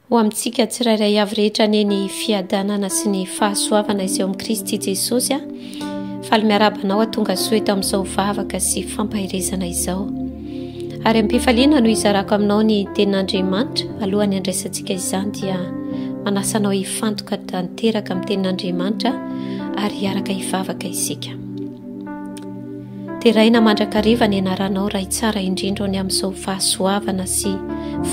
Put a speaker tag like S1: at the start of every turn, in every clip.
S1: Ho amintsika tsirairay avy rehetra anie ny fiadanana sy ny fahasoavana izay ao amin'i Kristy Jesosy a. Faly miarahaba anao atonga soa eto amin'izao vavaka sy fampaherezana izao. Ary am-pifaliana no izarako aminao ny tenin'Andriamanitra alohan'ny andraisantsika izany dia manasa anao hifantoka tanteraka amin'ny tenin'Andriamanitra ary hiaraka hivavaka isika. Deraina mandrakariva ny anaranao Ray tsara indrindra ao ny amin'izao fahasoavana sy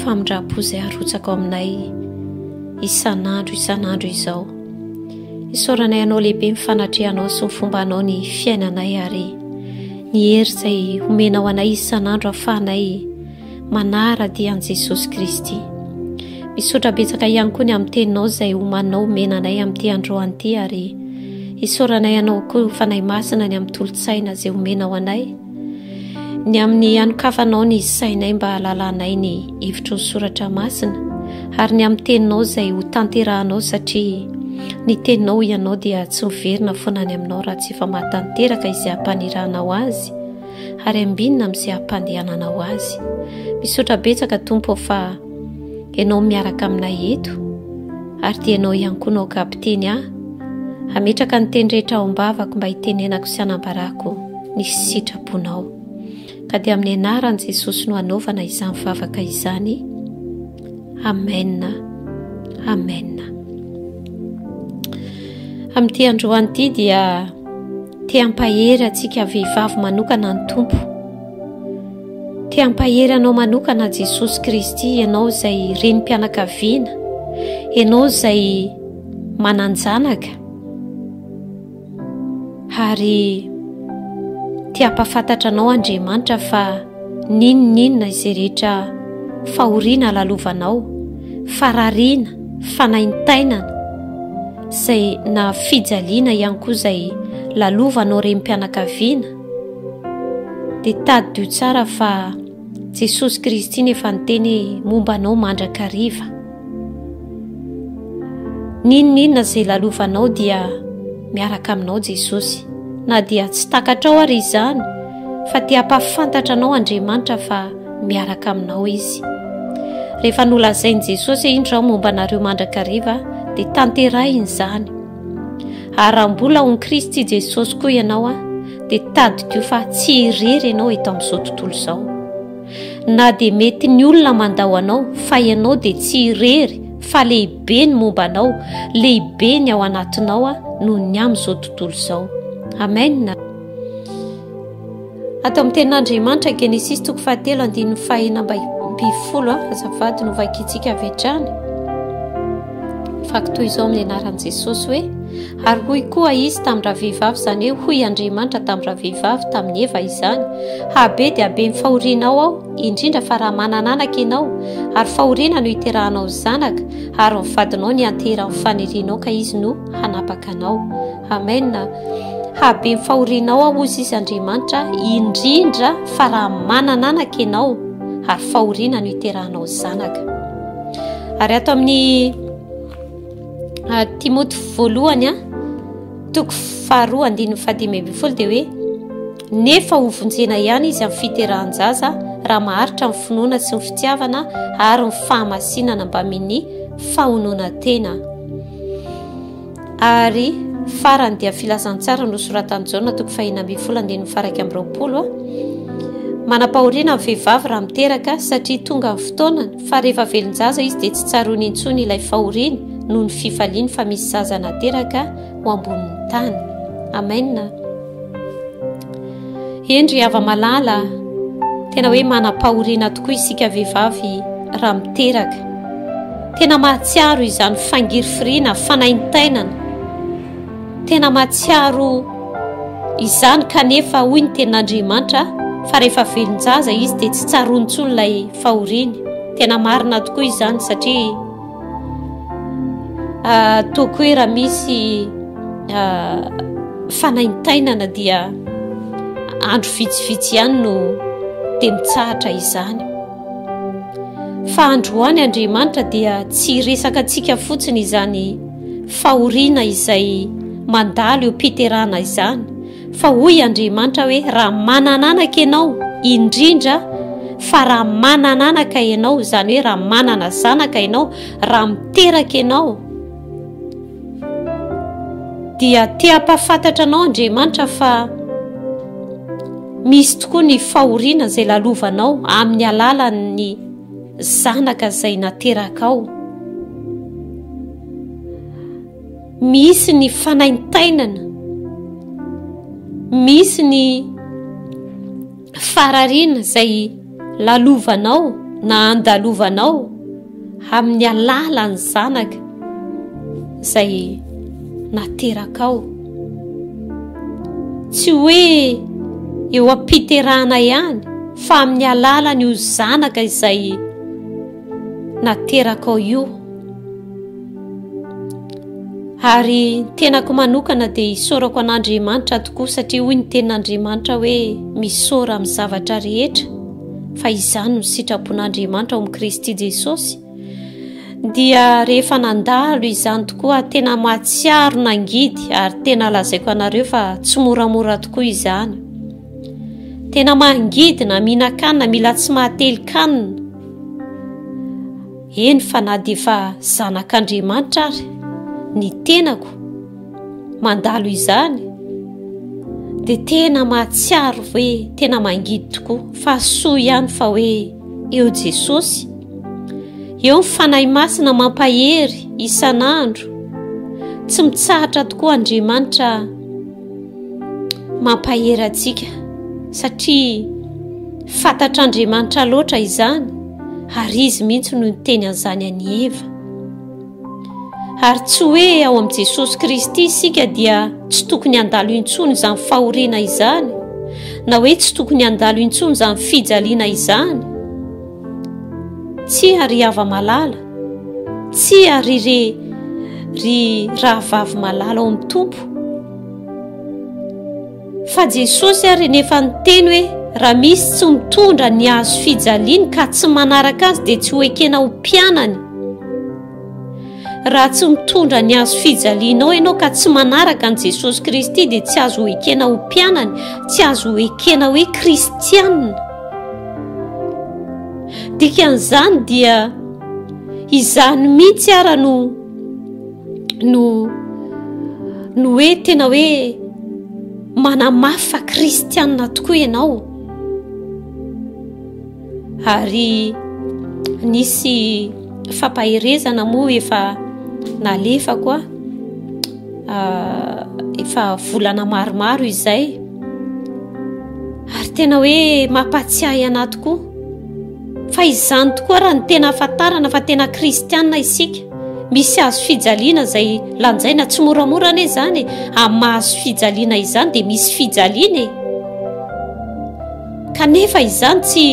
S1: famindram-po izay arotsaka ao aminay isan'andro isan'andro izao. Isaoranay anao lehibe ny fanatrehanao sy ny fomba anao ny fiainanay ary ny hery izay homenao anay isan'andro afahanay manara-dia an'i Jesosy Kristy. Misaotra betsaka ihany koa ny amin'ny teninao izay homanao mena anay amin'ity androany ity ary isaoranay anao koa fanahy masina ny amin'ny tolotsaina izay homenao anay ny amin'ny anokafanao ny sainay mba halalanay ny hevitry ny soratra masina ary ny amin'ny teninao izay ho tanterahanao satria ny teninao ianao dia tsy miverina foana any aminao raha tsy efa mahatanteraka izay hampaniranao azy ary ambinina amin'izay ampandehanana ho azy. Misaotra betsaka Tompo fa Ianao miaraka aminay eto ary dia Ianao ihany koa no kapiteny ahy. Hametraka ny teny rehetra ao am-bavako mba hitenenako sy hanambarako ny sitraponao. Ka dia amin'ny anaran'i Jesosy no hanaovana izany vavaka izany. Amen. Amen. Amin'ity androany ity dia te hampahery antsika vehivavy manokana ny Tompo. Te hampahery anao manokana Jesosy Kristy ianao izay renim-pianakaviana, ianao izay manan-janaka. Ary te hampafantatra anao Andriamanitra fa n'inon'inona izay rehetra fahoriana lalovanao, farariana, fanaintainana, izay na fijaliana ihany koa izay lalovanao renim-pianakaviana, dia tadidio tsara fa Jesosy Kristy no efa niteny hoe momba anao mandrakariva. N'inon'inona izay lalovanao dia miaraka aminao Jesosy. Na dia tsy takatrao ary izany fa te hampahafantatra anao Andriamanitra fa miaraka aminao Izy. Rehefa nolazain'i Jesosy hoe indro aho momba anareo mandrakariva dia tanterahiny izany. Ary raha mbola ao Kristy Jesosy koa ianao dia tadidio fa tsy irery ianao eto amin'izao tontolo izao. na dia mety ny olona mandao anao fa ianao dia tsy irery fa lehibe ny momba anao, lehibe ny ao anatinao a noho ny amin'izao tontolo izao. Amen. Ato amin'ny tenin'Andriamanitra Genesis toko fahatelo andininy fahena ambifolo a azafady no vakintsika avy hatrany. Faky toy izao amin'ny anaran'i Jesosy hoe Ary hoy koa Izy tamin-dravehivavy, izany hoe, hoy Andriamanitra tamin-dravehivavy, tamin'i Eva izany, Habe dia habe ny fahorianao Aho, indrindra fa raha manana anaka ianao, ary fahoriana no hiterahanao ny zanaka, ary ny vadinao no hianteherahan'ny fanirianao ka izy no hanapaka anao. Amen. Habe ny fahorianao Aho, hozy Izy Andriamanitra, indrindra fa raha manana anaka ianao, ary fahoriana no hiterahanao ny zanaka. Ary ato amin'ny Ah, Timoty voalohany a toko faharoa andininy fahadimy ambin'ny folo dia hoe nefa hovonjena ihany izy amin'ny fiterahan-jaza raha maharitra ny finoana sy ny fitiavana ary ny fahamasinana mbamin'ny fahonoana tena ary farany dia filazantsara nosoratan'i jaona toko fahina ambin'ny folo andininy faraika amby roapolo a manam-pahoriana ny vehivavy raha miteraka satria tonga ny fotoanany fa rehefa velon-jaza izy dia tsy tsaroany intsony ilay fahoriany noho ny fifaliany fa misy zaza nateraka ho ambonin'ny tany amena endry hava malala tena hoe manam-pahoriana tokoa isika vehivavy raha miteraka tena mahatsiaro izany fangirifiriana fanaintainana tena mahatsiaro izany kanefa hoy ny tenin'andriamanitra fa rehefa velon-jaza izy dia tsy tsaroany tsony ilay fahoriany. Tena marina tokoa izany satria ah, toko hoe raha misy ah, fanaintainana dia andro vitsivitsy ihany no dia mitsahatra izany fa androany andriamanitra dia tsy resaka antsika fotsiny izany fahoriana izay mandalo eo piterana izany Fa hoy Andriamanitra hoe, Raha manan'anaka ianao, indrindra fa raha manan'anaka ianao, izany hoe raha manana zanaka ianao, raha miteraka ianao, dia te hampafantatra anao Andriamanitra fa misy tokoa ny fahoriana izay lalovanao amin'ny alalan'ny zanaka izay naterakao. Misy ny fanaintainana, misy ny farariana izay lalovanao na andalovanao amin'ny alalan'ny zanaka izay naterakao. Tsy hoe eo am-piterahana ihany fa amin'ny alalan'io zanaka izay naterakao io ary tenako manokana dia hisaorako an'andriamanitra tokoa satria hoy ny tenin'andriamanitra hoe misaora amin'ny zavatra rehetra fa izany no sitrapon'andriamanitra ao amin'i kristy jesosy dia rehefa nandalo izany tokoa tena mahatsiaro nangidy ary tena lazaiko anareo fa tsy moramora tokoa izany Tena mangidina, mihinan-kanina, mila tsy mahatelin-kanina. Eny fa na dia efa zanak'Andriamanitra ary ny tenako mandalo izany dia tena mahatsiaro hoe tena mangidy tokoa fa soa ihany fa hoe eo Jesosy. Eo ny fanahy masina mampahery isan'andro. Tsy mitsahatra tokoa Andriamanitra Mampahery antsika satria fantatr'Andriamanitra loatra izany ary izy mihitsy no niteny an'izany an'i Eva. Ary tsy hoe ao amin'i Jesosy Kristy isika dia tsy tokony handalo intsony izany fahoriana izany na hoe tsy tokony handalo intsony izany fijaliana izany. Tsy ary hava malala Tsia ry re ry rahavavy malala ao amin'ny Tompo fa Jesosy ary nefa niteny hoe raha misy tsy mitondra ny azo fijaliany ka tsy manaraka azy dia tsy ho ekena ho mpianany raha tsy mitondra ny azo fijalianao ianao ka tsy manaraka an'i Jesosy Kristy dia tsy azo ho ekena ho mpianany tsy azo ho ekena hoe kristianina dikan'izany dia izany mihitsy ara no no no hoe tena hoe manamafa kristianina tokoa ianao ary nisy fampaherezana moa efa nalefa koa efa volana maromaro izay ary tena hoe mampatsiahy ana tokoa fa izany tokoa raha ny tena afantarana fa tena kristianina isika misy azo fijaliana izay lanjaina tsy moramora ane zany ami'ny mahazo fijaliana izany dia misy fijaliana e kanefa izany tsy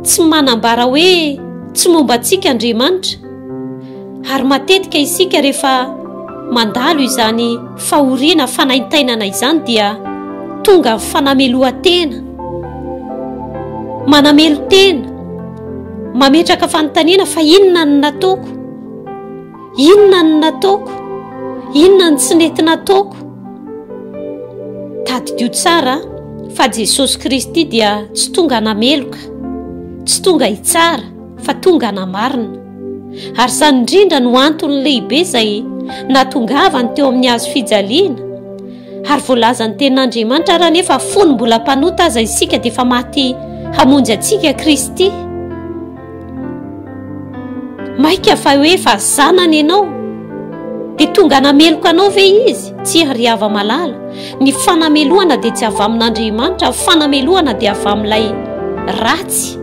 S1: tsy manambara hoe tsy momba antsika andriamanitra Ary matetika isika rehefa mandalo izany fahoriana fanaintainana izany dia tonga amin'ny fanamelohan-tena, manamelo-tena, mametraka fanontaniana fa inona ny nataoko? Inona ny nataoko? Inona ny tsy nety nataoko? Tadidio tsara fa Jesosy Kristy dia tsy tonga nameloka, tsy tonga hitsara, fa tonga namarina. Ary izany indrindra no antony lehibe izay natongavany teo amin'ny hazo fijaliana. Ary voalazan'ny tenin'Andriamanitra ary anefa fony mbola mpanota aza isika dia efa maty hamonjy antsika Kristy. Maika fa hoe efa zanany ianao dia tonga nameloka anao ve izy? Tsy ary hava malala. Ny fanamelohana dia tsy avy amin'Andriamanitra, fanamelohana dia avy amin'ilay ratsy.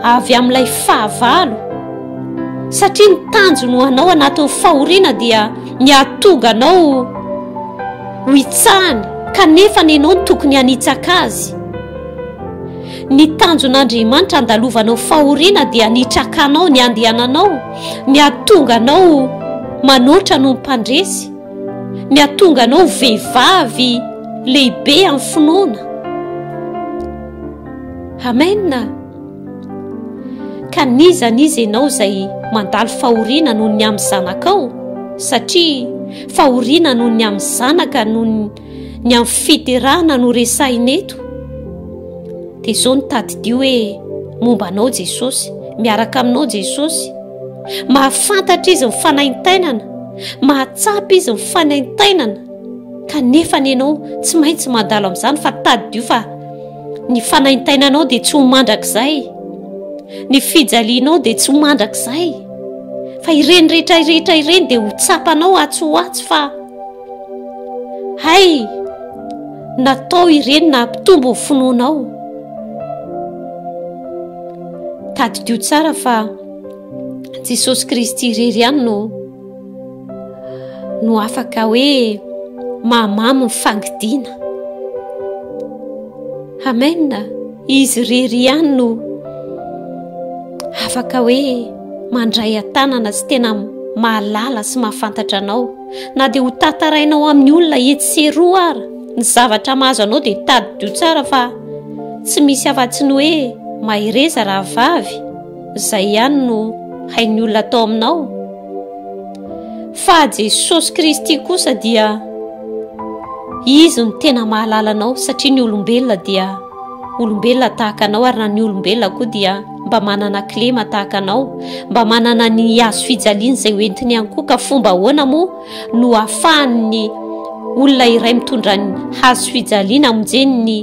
S1: avy amin'ilay fahavalo, satria ny tanjony ho anao anatin'ny fahoriana dia ny hahatoga anao ho hitsahany kanefa ny ianao tokony hanitsaka azy. Ny tanjon'Andriamanitra handalovanao fahoriana dia ny hitrakanao ny andehananao, ny hahatonga anao manoatra noho ny mpandresy, ny hahatonga anao vehivavy lehibe amin'ny finoana. Amen! Ka n'iza n'iza ianao izay mandalo fahoriana noho ny amin'ny zanakao, satria fahoriana noho ny amin'ny zanaka noho ny amin'ny fiterahana no resahina eto, dia izao ny tadidio hoe momba anao Jesosy, miaraka aminao Jesosy, mahafantatra izy ny fanaintainana, mahatsapa izy ny fanaintainana, kanefa ny ianao tsy maintsy mandalo amin'izany fa tadidio fa Ny fanaintainanao dia tsy ho mandrakizay. Ny fijalianao dia tsy ho mandrakizay. Fa ireny rehetra rehetra ireny dia ho tsapanao atsy ho atsy fa hay natao ireny na hampitombo ny finoanao. Tadidio tsara fa Jesosy Kristy irery ihany no no afaka hoe mahamamo ny fangidiana amena izy rery ihany no afaka hoe mandray an-tanana sy tena mahalala sy mahafantatra anao na dia ho tantarainao amin'ny olona etsy sy eroa ara ny zavatra mahazo anao dia tadidio tsara fa tsy misy afa-tsy ny hoe mahereza raha vavy Izay ihany no hain'ny olona atao aminao. Fa Jesosy Kristy kosa dia Izy no tena mahalala anao satria ny olombelona dia olombelona tahaka anao ary na ny olombelona koa dia mba manana kilema tahaka anao, mba manana ny hazo fijaliana izay hoentiny ihany koa ka fomba ahoana moa no afahan'ny olona iray mitondra ny hazo fijaliana amonjeny ny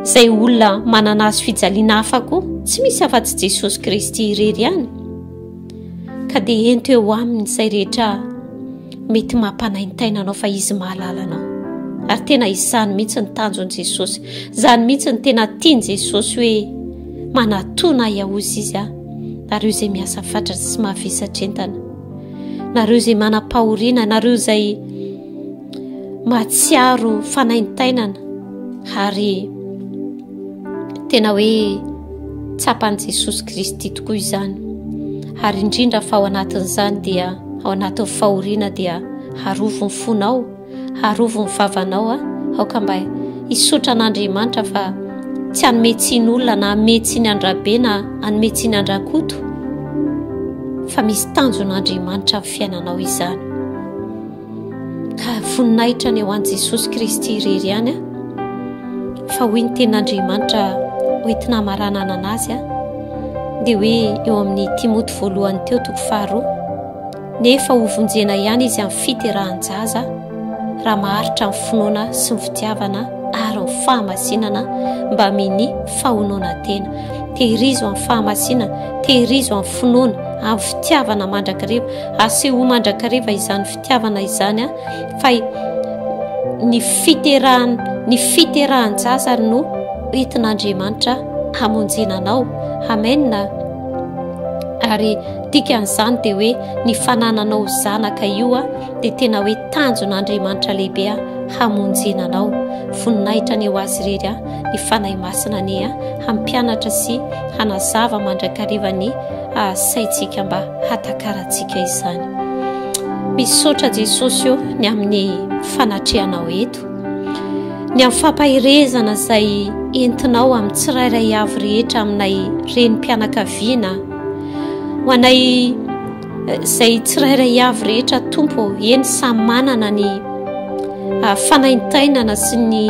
S1: Izay olona manana hazo fijaliana hafa koa, tsy misy afa-tsy Jesosy Kristy irery ihany. Ka dia ento eo aminy izay rehetra mety mampanaintaina anao fa izy mahalala anao. Ary tena izany mihitsy ny tanjon'i Jesosy. Izany mihitsy ny tena tian'i Jesosy hoe manatona ahy ahozy izy aho. Nareo izay miasa fatratra sy mavesatra entana. Nareo izay manam-pahoriana, nareo izay mahatsiaro fanaintainana ary tena hoe tsapan'i Jesosy Kristy tokoa izany ary indrindra fa ao anatin'izany dia ao anatin'ny fahoriana dia harovy ny fonao harovy ny vavanao a aoka mba hisotra an'Andriamanitra fa tsy hanome tsiny olona na hanome tsiny andrabe na hanome tsiny andrakoto fa misy tanjon'Andriamanitra ny fiainanao izany Ka voninahitra ny ho an'i Jesosy Kristy irery ihany fa hoy ny tenin'Andriamanitra hoentina hamaranana azy dia hoe eo amin'ny Timoty voalohany teo toko faharoa nefa ho vonjena ihany izy amin'ny fiterahan-jaza raha maharitra ny finoana sy ny fitiavana ary ny fahamasinana mba mini fahonoana tena tehirizo amin'ny fahamasinana tehirizo amin'ny finoana amin'ny fitiavana mandrakariva Asehoy mandrakariva izany fitiavana izany fa ny fiterahany ny fiterahan jaza ary no entin'Andriamanitra hamonjena anao. Amen. Ary dikan'izany dia hoe ny fanananao zanaka io dia tena hoe tanjon'Andriamanitra lehibe hamonjena anao. Voninahitra ny ho azy irery ny fanahy masina anie hampianatra sy hanazava mandrakariva ny asaintsika mba hatakarantsika izany. Misaotra Jesosy o ny amin'ny fanatrehanao eto, ny amin'ny fampaherezana izay entinao amin'ny tsirairay avy rehetra aminay renim-pianakaviana, ho anay eh, izay tsirairay avy rehetra tompo, eny samy manana ny ah, fanaintainana sy ny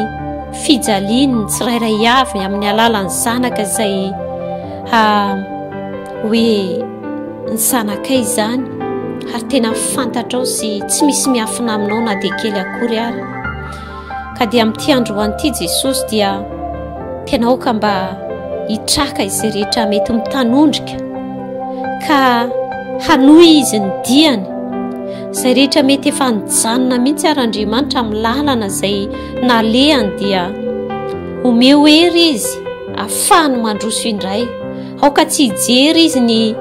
S1: fijaliany ny tsirairay avy amin'ny alalan'ny zanaka izay Ha, hoe ny zanakay izany, ary tena fantatrao sy tsy misy miafina aminao na dia kely akory ary. Ka dia amin'ity androany ity Jesosy dia tena aoka mba hitraka izay rehetra mety mitanondrika ka hanohy izy ny diany izay rehetra mety efa nijanona mihitsy ary Andriamanitra amin'ny lalana izay nalehany dia omeo hery izy Afahany mandroso indray. Aoka tsy hijery izy ny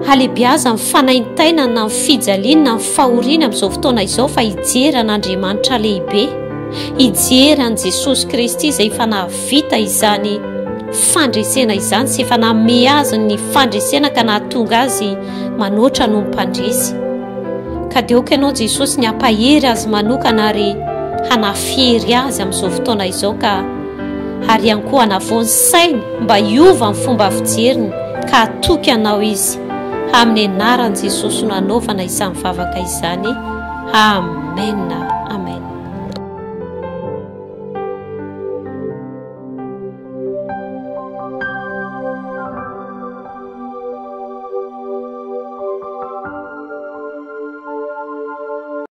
S1: halebiazany, ny fanaintainany, na ny fijaliany, na ny fahoriany amin'izao fotoana izao, fa hijery an'Andriamanitra lehibe, hijery an'i Jesosy Kristy izay efa nahavita izany fandresena izany sy efa nanome azy ny fandresena ka nahatonga azy manoatra noho ny mpandresy. Ka dia aoka ianao Jesosy ny hampahery azy manokana ary hanafihery azy amin'izao fotoana izao ka ary ihany koa hanavao ny sainy mba hiova ny fomba fijeriny ka hatoky anao izy amin'ny anaran'i Jesosy no hanaovana izany vavaka izany amen